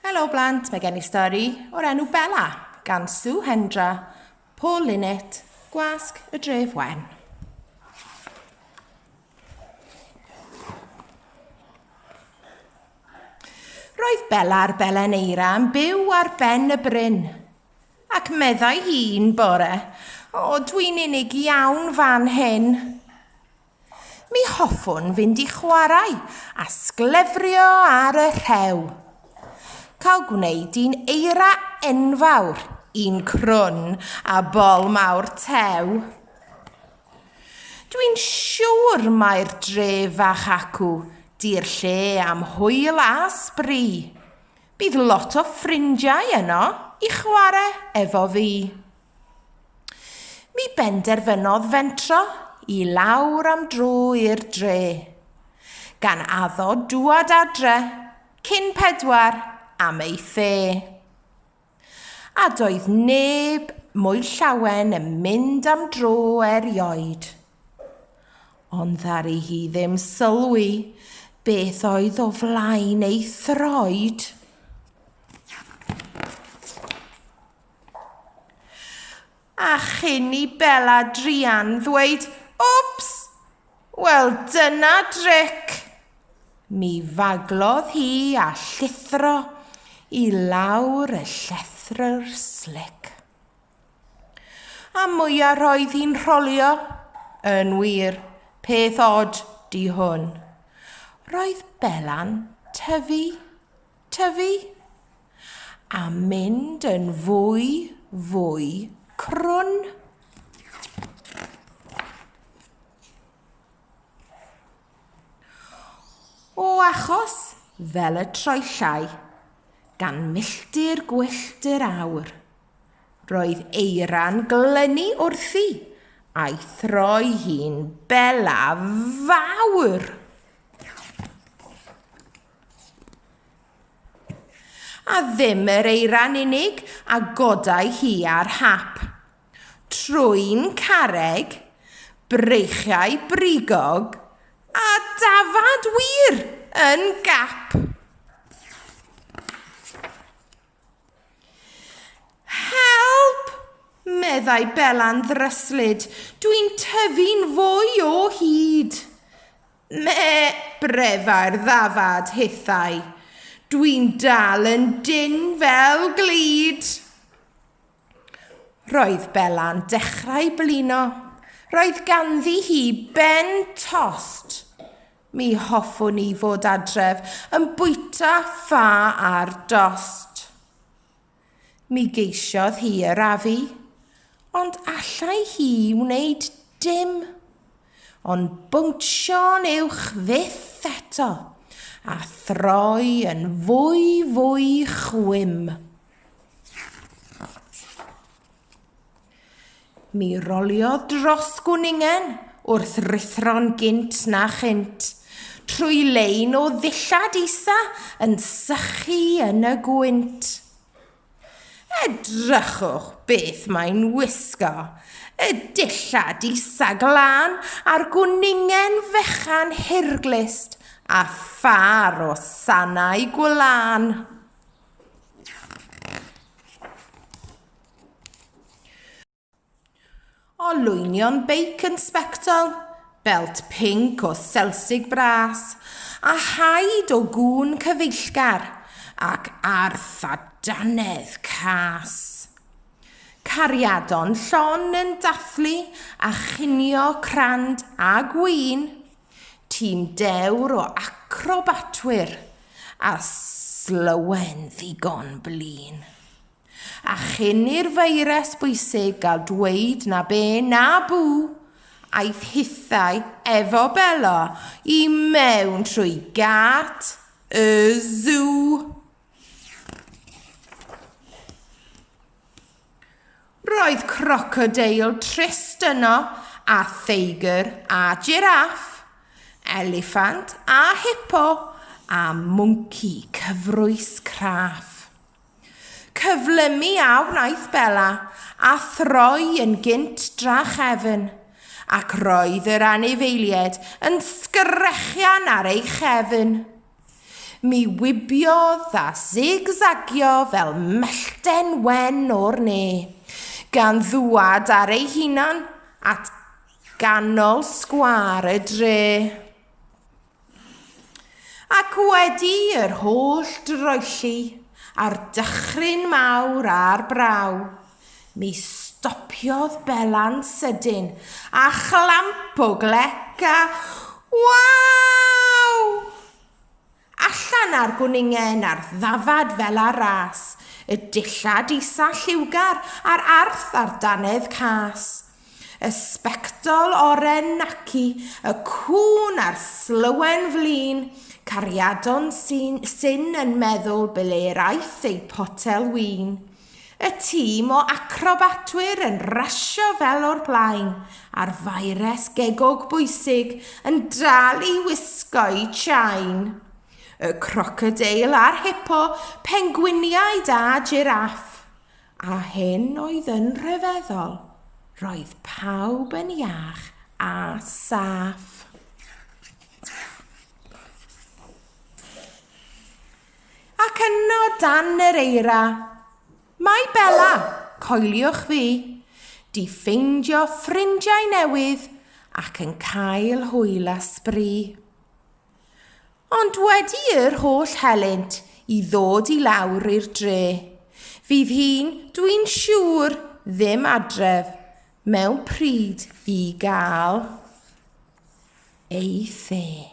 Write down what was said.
Helo blant, mae gen i stori o'r enw Bella gan Sue Hendra, Paul Linnett, Gwasg y Dref Wen. Roedd Bella a'r Belen Eira yn byw ar ben y bryn. Ac meddai hi'n bore, o dwi'n unig iawn fan hyn. Mi hoffwn fynd i chwarae a sglefrio ar y rhew. Cael gwneud un eira enfawr, un crwn a bol mawr tew. Dwi'n siwr mai'r dre fach acw di'r lle am hwyl a sbri. Bydd lot o ffrindiau yno i chwarae efo fi. Mi benderfynodd fentro i lawr am dro i'r dre, gan addo dŵad adre cyn pedwar am ei the. A doedd neb mwy llawen yn mynd am dro erioed. Ond ddari hi ddim sylwi beth oedd o flaen ei throed. A chyn i Bella druan ddweud Wps! Wel dyna dric! Mi faglodd hi a llithro i lawr y llethrwr slic. A mwya roedd hi'n rholio, yn wir, peth od di hwn. Roedd Bella'n tyfu tyfu, a mynd yn fwy, fwy crwn. O achos fel y troellau, gan milltir gwyllt yr awr, roedd eira'n glynu wrthi a'i throi hi'n bela fawr. A ddim yr eira'n unig a godai hi ar hap. Trwyn carreg, breichiau brigog, a dafad wir yn gap. Help! meddai Bela'n ddryslyd, dwi'n tyfu'n fwy o hyd. Me, Brefair ddafad, hithau. Dwi'n dal yn dyn fel glud! Roedd Bela'n dechrau blino. Roedd ganddi hi ben tost. Mi hoffwn i fod adref yn bwyta ffa ar dost. Mi geisiodd hi arafu, ond allai hi wneud dim ond bowntio'n uwch fyth eto a throi yn fwy fwy chwim. Mi roliodd dros Gwningen wrth ruthro'n gynt na chynt, trwy lein o ddillad isa yn sychu yn y gwynt. Edrychwch beth mae'n wisgo, y dillad isa glân a'r gwningen fechan hirglust a phâr o sanau gwlân. Olwynion beic yn sbectol, belt pinc o selsig bras, a haid o gŵn cyfeillgar, ac arth a dannedd cas. Cariadon llon yn dathlu a chinio crand a gwin, tîm dewr o acrobatwyr a slywen ddigon blin. A chyn i'r feirws bwysig gael dweud na be na bw, aeth hithau efo Belo i mewn trwy gât y sŵ. Roedd crocodeil trist yno, a theigr a jiraff, eliffant a hipo, a mwnci cyfrwys craff. Cyflymu a wnaeth Bella, a throi yn gynt drachefn, ac roedd yr anifeilied yn sgrechian ar ei chefn. Mi wibiodd a zig-zagio fel mellten wen o'r ne, gan ddwad ar ei hunan at ganol sgwâr y dre. Ac wedi yr holl droelli a'r dychryn mawr a'r braw, mi stopiodd Bela'n sydyn a chlamp o glec a Waw! Allan â'r gwningen a'r ddafad fel ar ras, y dillad isa lliwgar a'r arth a'r dannedd cas. Y sbectol oren naci y cŵn a'r slywen flin cariadon sy'n syn yn meddwl ble'r aeth eu potel win. Y tîm o acrobatwyr yn rasio fel o'r blaen, a'r faeres gegog bwysig yn dal i wisgo'u chain. Y crocodeil a'r hipo, pengwiniaid a jiraff. A hyn oedd yn rhyfeddol, roedd pawb yn iach a saff. Ac yno dan yr eira, mae Bella, coeliwch fi, di ffeindio ffrindiau newydd ac yn cael hwyl a sbri. Ond wedi yr holl helynt i ddod i lawr i'r dre, fydd hi'n, dwi'n siŵr, ddim adref mewn pryd i gael ei the.